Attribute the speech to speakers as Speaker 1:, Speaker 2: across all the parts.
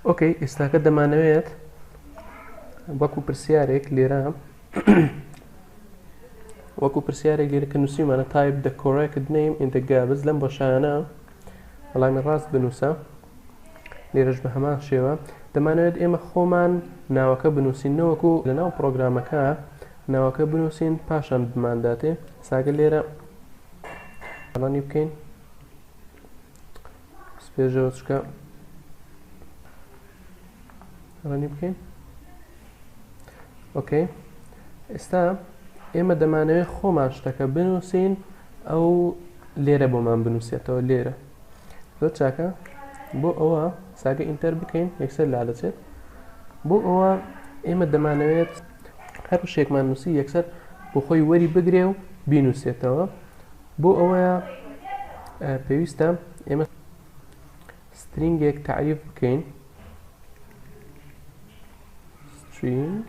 Speaker 1: ئۆکەی ئێستاکە دەمانەوێت وەکو پرسیارێک لێرە وەکو پرسیارێک لێرە کە نووسیمانە تایب دە کۆڕێکت نیم ئینتەگابز لەم بەشانە وەڵامی ڕاست بنووسە لێرەش بە هەمان شێوە دەمانەوێت ئێمە خۆمان ناوەکە بنووسین نەوەکو لەناو پرۆگرامەکە ناوەکە بنووسین پاشان بمانداتێ ساگە لێرە ئەڵانی بکەین سپێژەوە چکە ڕەنی بکەین ئۆکەی ئێستا ئێمە دەمانەوێت خۆمان شتەکە بنووسین ئەو لێرە بۆمان بنووسێتەوە لێرە زۆر چاکە بۆ ئەوە ساگە ئینتەر بکەین یەکسەر لا دەچێت بۆ ئەوە ئێمە دەمانەوێت هەر شێکمان نووسی یەکسەر بۆ خۆی وەری بگرێ و بینوسێتەوە بۆ ئەوەیە پێویستە ئێمە سترینگێک تعریف بکەین سترینگ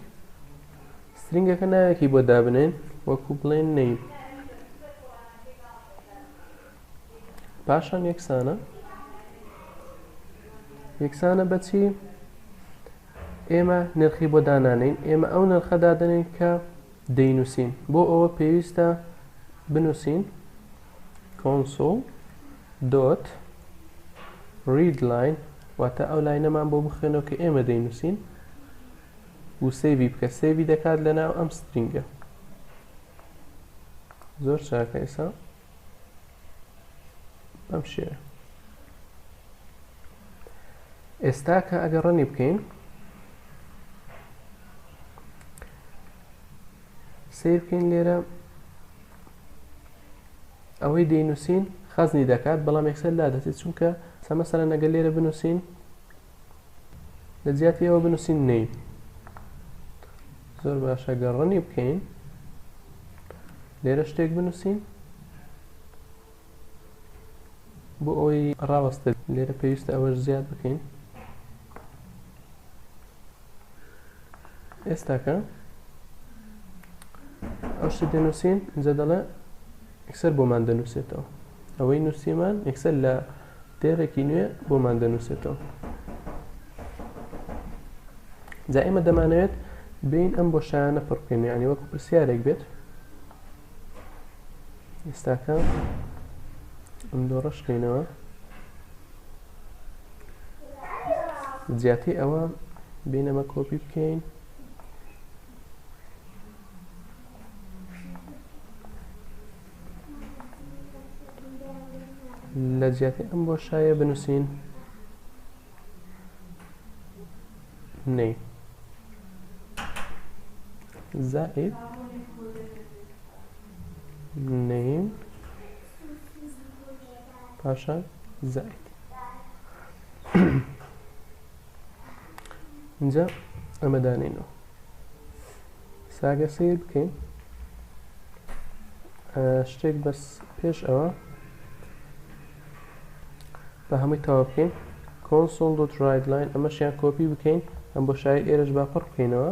Speaker 1: سترینگەکە ناوێکی بۆ دابنێن وەکو بڵێن نەیم پاشان یەکسانە یەکسانە بەچی ئێمە نرخی بۆ دانانین ئێمە ئەو نرخە دادنین کە دەینووسین بۆ ئەوە پێویستە بنووسین کۆنسۆل دۆت ریدلاین واتە ئەو لاینەمان بۆ بخوێنەوە کە ئێمە دەینووسین و سێوی بکە سێوی دەکات لە ناو ئەم سترینگە زۆر چاکە ئێسا بەم شێوە ئێستا کە ئەگە ڕەنی بکەین سیر بکەین لێرە ئەوەی دەینووسین خەزنی دەکات بەڵام یەکسەر لا دەچێت چونکە سەمەسەرە نەگەل لێرە بنووسین لە جیاتی ئەوە بنووسین نەی زۆر باشە گەر ڕەنی بکەین لێرە شتێک بنووسین بۆ ئەوەی ڕاوەستە لێرە پێویستە ئەوەش زیاد بکەین ئێستاکە ئەو شتە دەنووسین جە دەڵێ ئەکسەر بۆمان دەنووسێتەوە ئەوەی نووسیمان ئەکسەر لە دێڕێکی نوێ بۆمان دەنووسێتەوە جا ئێمە دەمانەوێت بین ئەم بۆ شایانە پڕکەین یعنی وەکو پرسیارێک بێت ئێستاکە ئەم دۆڕشکەینەوە زیاتری ئەوە بینەمە کۆپی بکەین لە جیاتی ئەم بۆشایە بنووسین نەی زائد نەی پاشان زائد اینجا ئەمە دانێنەوە ساگە سیر بکەین شتێک بەس پێش ئەوە بە هەمووی تەوا بکەین کۆنسۆل دۆ ڕایدلاین ئەمەشیان کۆپی بکەین ئەم بۆ شای ئێرش باپڕ بکەینەوە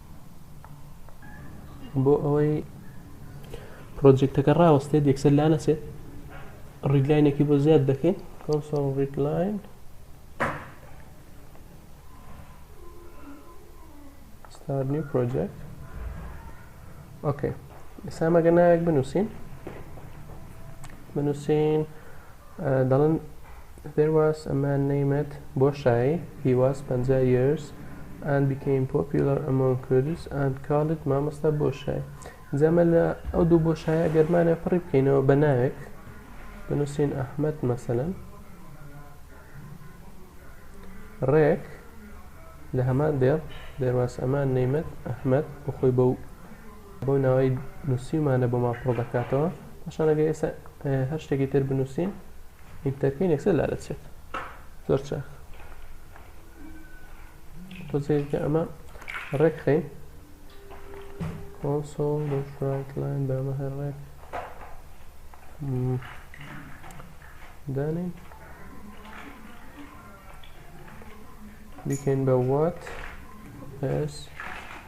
Speaker 1: بۆ ئەوەی پرۆجێکتەکە ڕاوەستێت یەکسەر لا نەچێت ڕیدلاینێکی بۆ زیاد دەکەین کۆنسۆڵ ڕیدلاین ستار نیو پرۆجێکت ئۆکەی ئێستا مەگەنایەک بنووسین بنووسین دەڵێن There was a man named بۆشایی He was پەنجا years and became popular among Kurds and called مامۆستا بۆشایی جا مە لە ئەو دوو بۆشایە گەر مانە پڕی بکەینەوە بە ناوێک بنووسین ئەحمد مەسەلەن ڕێک لە هەمان دێڕ دەرواسەمان نەیمەت ئەحمد بخۆی بەو بەو ناوەی نووسیومانە بۆمان پڕ دەکاتەوە پاشان ئەگەر ئێستا هەر شتێکی تر بنووسین ئینتەرکەین یەکسەر لا دەچێت زۆر چاک تۆزێکە ئەمە ڕێکخین کۆنسۆڵ ڕایتلاین بەمە هەر ڕێک دانین بیکەین بە وات ئەس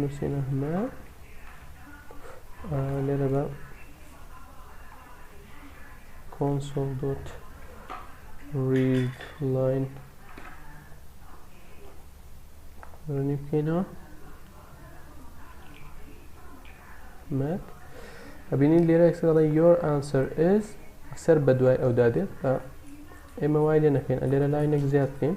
Speaker 1: نووسینە هەمە لێرە بە کۆنسۆڵ دۆت ڕید لاین ڕنی بکەینەوە مەک ئەبینین لێرە ئەکسەڵە یۆر ئانسەر ئز سەر بە دوای ئەودا دێت ئێمە وای لێ نەکەین لێرە لاینێک زیاد بکەین